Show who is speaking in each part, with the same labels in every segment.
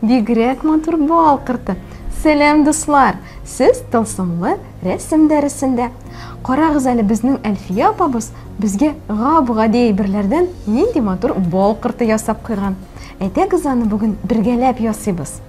Speaker 1: Бигрәк матур бал кырты. Сәлам, дуслар! Сез тылсымлы рәсем дәресендә. Карагыз әле безнең Әлфия апабыз безгә гап-гади әйберләрдән нинди матур бал кырты ясап куйган. Әйдәгез аны бүген бергәләп ясыйбыз.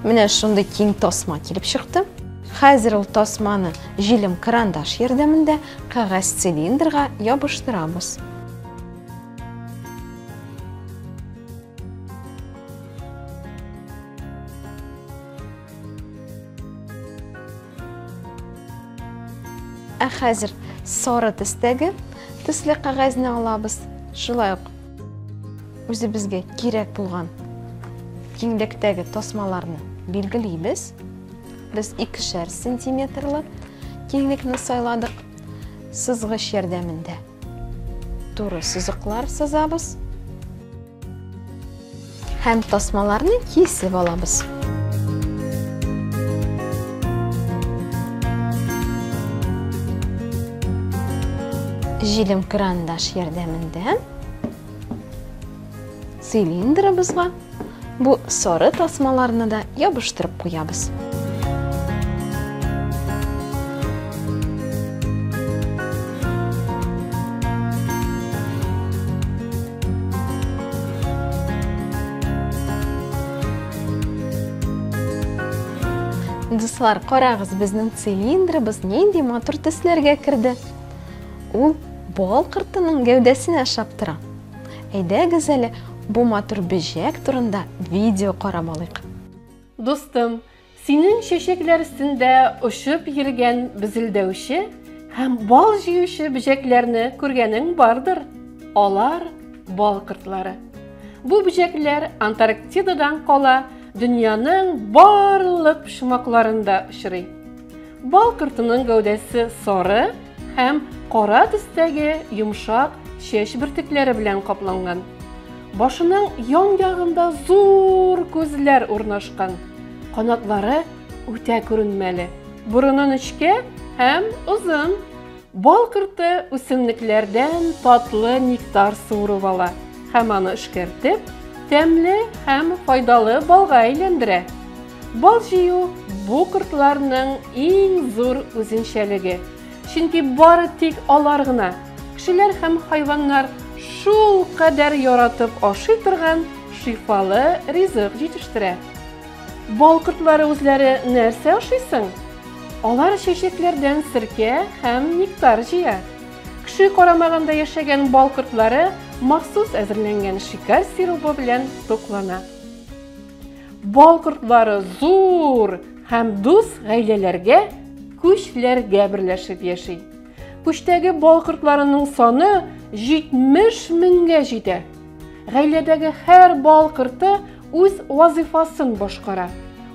Speaker 1: Менә шундый киң тасма килеп чыкты. Хәзер ул тасманы җилем карандаш ярдәмендә кәгазь цилиндрга ябыштырабыз. Ә хәзер сары төстәге төсле кәгазьне алабыз. Шулай ук Үзебезгә кирәк булган киңлектәге тасмаларны билгелибез. Без икешәр сантиметрлы киңлекне сайладык. Сызгыч ярдәмендә туры сызыклар сызабыз. Һәм тасмаларны кисеп алабыз. Җилем крандаш ярдәмендә цилиндрыбызга бу соры тасмаларны да ябыштырып куябыз. Дуслар, карагыз, безнең цилиндрыбыз нинди матур төсләргә керде. Ул бал кыртының гәүдәсенә шаптыра. Әйдәгез әле бу матур бөҗәк турында видео карап алыйк. Дустым,
Speaker 2: Синең чәчәкләр өстендә очып йөргән безелдәүче һәм бал җыючы бөҗәкләрне күргәнең бардыр. Алар, бал кортлары. Бу бөҗәкләр Антарктидадан кала, дөньяның барлык почмакларында очрый. Бал кортының гәүдәсе сары һәм кара төстәге йомшак чәч бөртекләре белән капланган. Башының ян-ягында зур күзләр урнашкан. Канатлары үтә күренмәле. Борыны нечкә һәм озын. Бал корты үсемлекләрдән татлы нектар суырып ала һәм аны эшкәртеп, тәмле һәм файдалы балга әйләндерә. Бал җыю бу кортларның иң зур үзенчәлеге. Чөнки бары тик алар гына, кешеләр һәм хайваннар шулкадәр яратып ашый торган шифалы ризык җитештерә. Бал кортлары үзләре нәрсә ашый соң? Алар чәчәкләрдән серкә һәм нектар җыя. Кеше карамагында яшәгән бал кортлары махсус әзерләнгән шикәр сиробы белән туклана. Бал кортлары зур һәм дус гаиләләргә, күчләргә берләшеп яши. Күчтәге бал кортларының саны 70 меңгә җитә. Гаиләдәге һәр бал корты үз вазыйфасын башкара.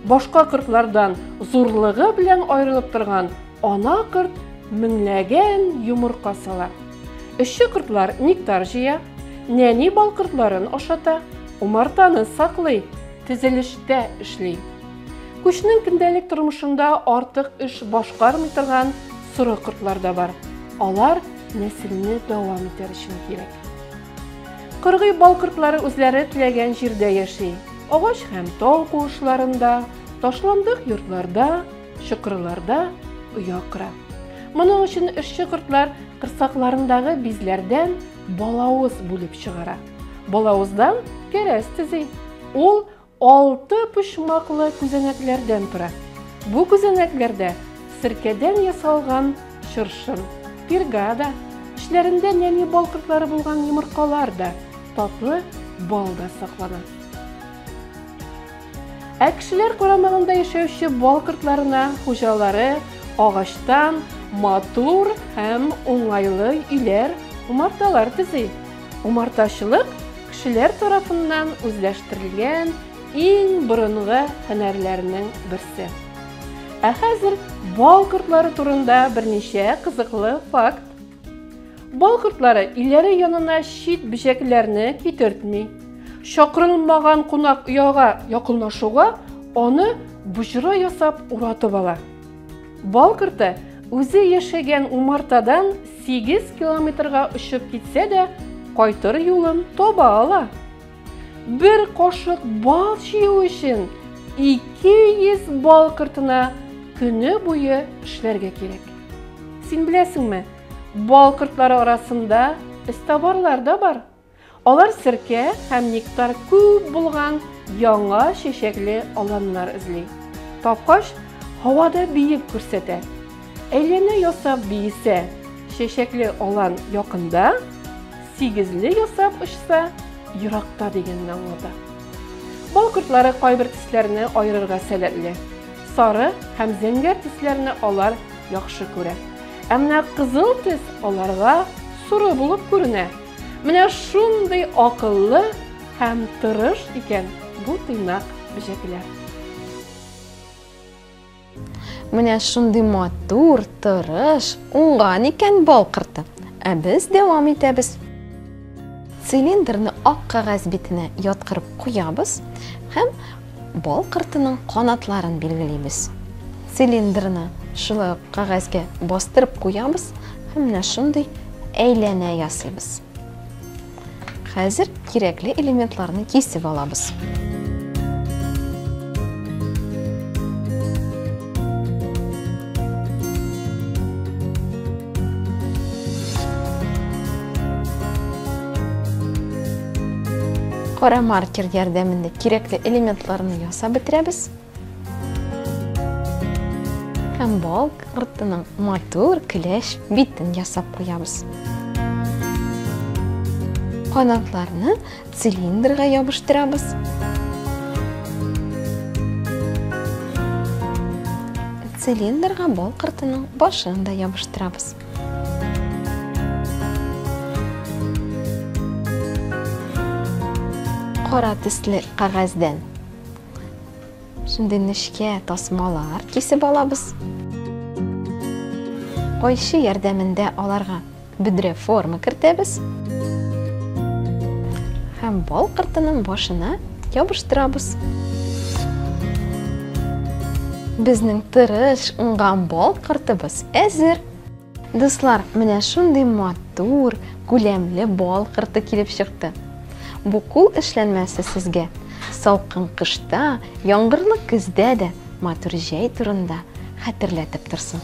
Speaker 2: Башка кортлардан зурлыгы белән аерылып торган ана корт меңләгән йомырка сала. Эшче кортлар нектар җыя, нәни бал кортларын ашата, умартаны саклый, тезелештә эшли. Күчнең көндәлек тормышында артык эш башкармый торган соры кортлар да бар. Алар нәселне дәвам итәр өчен кирәк. Кыргый бал кортлары үзләре теләгән җирдә яши. Агач һәм тау куышларында, ташландык йортларда, чокырларда оя кыра. Моның өчен эшче кортлар кырсакларындагы бизләрдән балавыз бүлеп чыгара. Балавыздан кәрәс төзи. Ул Алты почмаклы күзәнәкләрдән тора. Бу күзәнәкләрдә серкәдән ясалган чыршын, пирга да, эчләрендә нәни бал кортлары булган йомыркалар да, татлы бал да саклана. Ә кешеләр карамагында яшәүче бал кортларына хуҗалары агачтан матур һәм уңайлы өйләр, умарталар төзи. Умартачылык кешеләр тарафыннан үзләштерелгән иң борынгы һөнәрләрнең берсе. Ә хәзер бал кортлары турында берничә кызыклы факт. Бал кортлары өйләре янына чит бөҗәкләрне китертми. Чакырылмаган кунак ояга якынлашуга аны боҗра ясап уратып ала. Бал корты үзе яшәгән умартадан сигез километрга очып китсә дә, кайтыр юлын таба ала. Бер кашык бал җыю өчен 200 бал кортына көне буе эшләргә кирәк. Син беләсеңме, бал кортлары арасында эзтабарлар да бар. Алар серкә һәм нектар күп булган яңа чәчәкле аланнар эзли. Тапкач, һавада биеп күрсәтә. Әйләнә ясап биесә, чәчәкле алан якында, сигезле ясап очса, еракта дигәнне аңлата. Бал кортлары кайбер төсләрне аерырга сәләтле. Сары һәм зәңгәр төсләрне алар яхшы күрә. Ә менә кызыл төс аларга соры булып күренә. Менә шундый акыллы һәм тырыш икән бу тыйнак бөҗәкләр.
Speaker 1: Менә шундый матур, тырыш, уңган икән бал корты. Ә без дәвам итәбез. Цилиндрны ак кәгазь битенә яткырып куябыз һәм Бал кортының канатларын билгелибез. Цилиндрны шулай ук кәгазьгә бастырып куябыз һәм менә шундый әйләнә ясыйбыз. Хәзер кирәкле элементларны кисеп алабыз. Кара маркер ярдәмендә кирәкле элементларны ясап бетерәбез. Һәм балк артының матур көләш битен ясап куябыз. Канатларны Цилиндрга ябыштырабыз. Цилиндрга бал кыртының башын да ябыштырабыз. Кара төсле кагазьдән Шундый нечкә тасмалар кисеп алабыз. Кайчы ярдәмендә аларга Бөдрә форма кертәбез. Һәм бал кыртының башына ябыштырабыз. Безнең тырыш, уңган бал кыртыбыз әзер. Дуслар, менә шундый матур, күләмле бал кырты килеп чыкты. Бу кул эшләнмәсе сезгә салкын кышта, яңгырлы көздә дә матур җәй турында хәтерләтеп торсын.